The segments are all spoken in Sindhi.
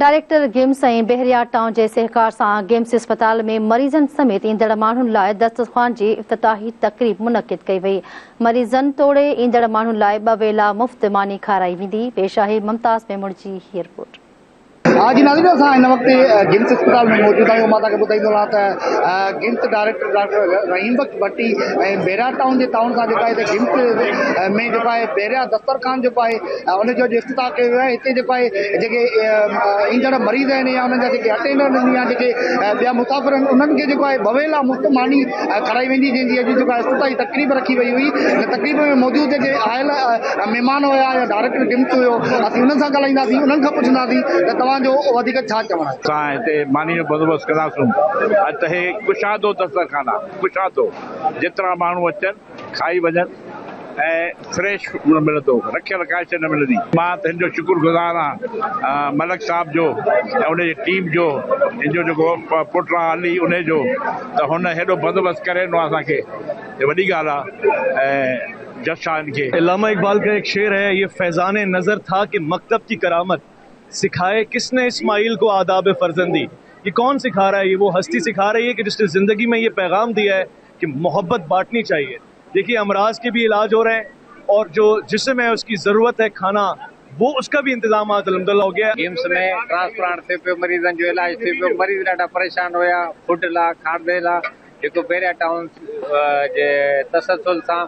ڊائريڪٽر گيمس ۽ بحريا ٽائون جي سهڪار سان گيمس اسپتال ۾ مريضن سميت ايندڙ ماڻهن لاء دسترخوان جي افتتاحي تقريب منعقد ڪئي وئي، مريضن توڙي ايندڙ ماڻهن لاء ٻه ويلا مفت ماني کارائي ويندي، پيش آهي ممتاز ميمڻ جي هي رپورٽ. ها جي ناظرين اسان هن وقت گيمس اسپتال ۾ موجود آهيون مان توهان کي ٻڌائيندو رهان ته GIMS director doctor Rahim Bakhsh Bhatti ۽ Bahria town جي تعاون سان جيڪا هتي گيمس ۾ جيڪو آهي بحريا دسترخوان جيڪو آهي ان جو اڄ افتتاح ڪيو ويو آهي هتي جيڪو آهي جيڪي ايندڙ مريض آهن يا انهن جا جيڪي اٽينڊنٽ آهن يا جيڪي ٻيا مسافر آهن انهن کي جيڪو آهي بويلا مفت ماني کارائي ويندي جنهن جي اڄ جيڪو آهي افتتاحي تقريب رکي وئي هئي ان تقريب ۾ موجود جيڪي آيل مهمان هيا يا ڊائريڪٽر ڊمس هيو اسين انهن سان ڳالهائينداسين انهن کان پڇنداسين ته توهان جو وڌيڪ ڇا چوڻ آهي. سان هتي ماني جو بندوبست ڪنداسون اڄ ته هي ڪشادو دسترخوان آهي ڪشادو جيترا ماڻهو اچن کائي وڃن ۽ فريش نه ملندو رکيل ڪانئن شيء نه ملندي. مان ته هن جو شڪر گذار آهيان ملڪ صاحب جو ۽ ان جي ٽيم جو هن جو جيڪو پٽ آ علي انهي جو ته هن هيڏو بندوبست ڪري ڏنو آ اسان کي جو وڏي ڳالهه آ ۽ جس آ هن کي. علامه اقبال ڪا ايڪ شعر هي يه فيضان نظر ٿا ڪي مڪتب ڪي ڪرامت سکائي ڪس ني اسماعيل ڪو آداب فرزندي يه ڪون سکا رها هي يه وو هستي سکا رهي هي ڪي جس ني زندگي مي يه پيغام ديا هي ڪي محبت بانٽني چاهيي جيڪي امراض ڪي ڀي علاج هو رهي اور جو جسم هي اسڪي ضرورت هي کانا وو اسڪا ڀي انتظامات الحمدالله هو گيا. ايمس ۾ ٽرانسپلانٽ ٿي پيو مريضن جو علاج ٿي پيو مريض ڏاڍا پريشان هيا فوڊ لا کاردي لا جيڪو بحريا ٽائون جي تسلسل سان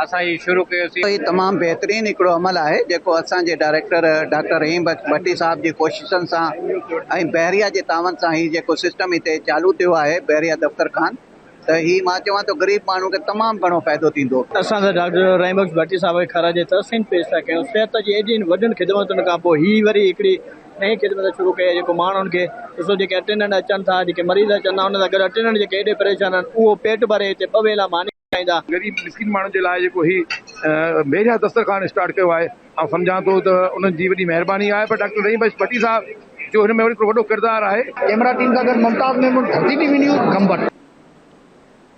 اسان هي شروع ڪيو سي. هي تمام بهترين هڪڙو عمل آهي جيڪو اسان جي ڊائريڪٽر ڊاڪٽر رحيم بخش ڀٽي صاحب جي ڪوششن سان ۽ بحريا جي تعاون سان هي جيڪو سسٽم هتي چالو ٿيو آهي بحريا دفتر خان ته هي مان چوان ٿو غريب ماڻهو کي تمام گهڻو فائدو ٿيندو. اسان ته ڊاڪٽر رحيم بخش ڀٽي صاحب کي خراج تحسين پيش ٿا ڪيون صحت جي ايڏين وڏين خدمتن کان پوء هي وري هڪڙي نئين خدمت شروع ڪئي آهي جيڪو ماڻهن کي ڏسو جيڪي اٽينڊنٽ اچن ٿا جيڪي مريض اچن ٿا انهن سان گڏ اٽينڊنٽ جيڪي ايڏي پريشان آهن اهو پيٽ ڀري هتي ٻه ويلا ماني کائيندا. غريب مسڪين ماڻهن جي لاء جيڪو هي بيجا دسترخوان اسٽارٽ ڪيو آهي آئون سمجهان ٿو ته انهن جي وڏي مهرباني آهي پر ڊاڪٽر رحيم بخش ڀٽي صاحب جو هن ۾ وري هڪڙو وڏو ڪردار آهي. ڪيمرا ٽيم سان گڏ Mumtaz Memon, Dharti T V news, Gambat.